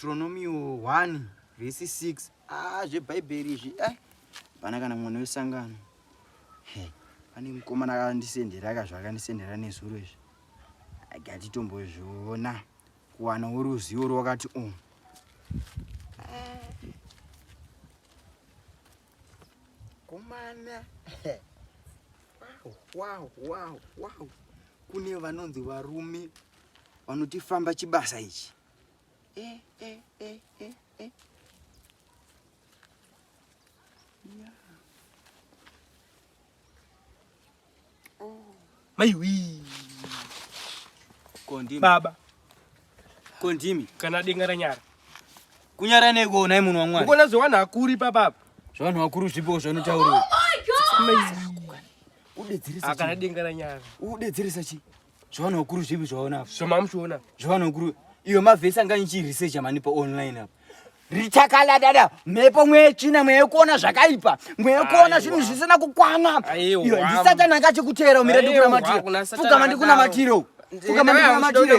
Deuteronomio 1 vhesi 6 ah zvebhaibheri izvi eh pana kana mwana wesangano he pane mukomana akandisendera ka zvakandisendera nezuro izvi agatitombozviona kuwana woruzivo rwakati o oh. komana wow wow wow kune vanonzi varume vanotifamba chibasa ichi Eh, eh, eh, eh, eh. Yeah. Oh. Maiwi. Kondimi. Baba. Kondimi. Kana denga ranyara. Kunyara neko unai munhu wamwari. Ukona zvewanhu hakuri papa. Zvewanhu hakuri zvipo zvanotaurwa. Oh my god. Udedzeresa. Akana denga ranyara. Udedzeresa chi? zvavana vakuru zvipi zvavaona apa zvamamuchiona zvavana vakuru iwe mavhesi anga nichiresecha mani paonline apa richakala dada mhepo mweya yetsvina mweya yekuona zvakaipa mweya yekuona zvinhu zvisina kukwana iwe ndisatani akachikuteera umire ndikunamatiro pfugama ndikunamatiro pfugamamatiro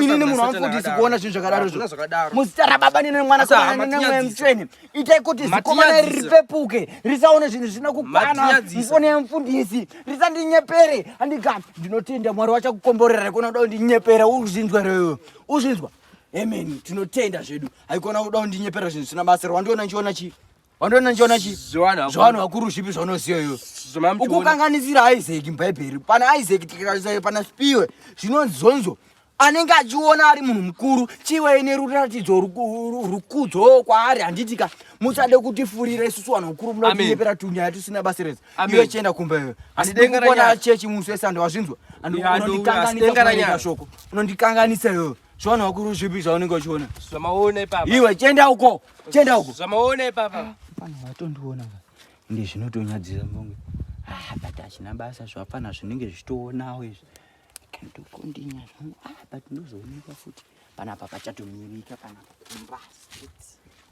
inini munhu wamufundisi kuona zvinhu zvakadaro zvo muzita rababa nene mwana saamweya mutsvene itai kuti zikomana iri ripepuke risaone zvinhu zvisina kukwana mfone yemfundisi risandinyepere handika ndinotenda mwari wachakukomborera haikona kuda kundinyepera uzvinzwa reyo uzvinzwa amen tinotenda zvedu haikona kuda kundinyepera zvinhu zvisina basa wandiona ndichiona chii wandiona ndichiona chii zvavanhu vakuru zvipi zvaunoziva iyo ukukanganisira isaki mubhaibheri pana isaki tikaaana spiwe zvinonzi zonzo anenge achiona ari munhu mukuru chivei neruratidzo rukudzo kwaari handiti ka musade kutifurira isusu vanhu vakuru muda kutinyepera tunyaya tusina basa rese iwe chienda kumba iwe handidi kukona chechi musi wese andu wazvinzwa andiunondikanganisa shoko unondikanganisa iwewe zvavanhu vakuru zvipi zvaunenge uchiona zvamaona ipapa iwe chienda uko chienda uko zvamaona ipapa ah, pana vatondiona ndi zvinotonyadzira mbonge ah but achina basa zvapana zvinenge zvichitoonawo izvi kandokondinya zvangu ah, but ndozoonekwa futi panapa pachatomirika panapa kumbasi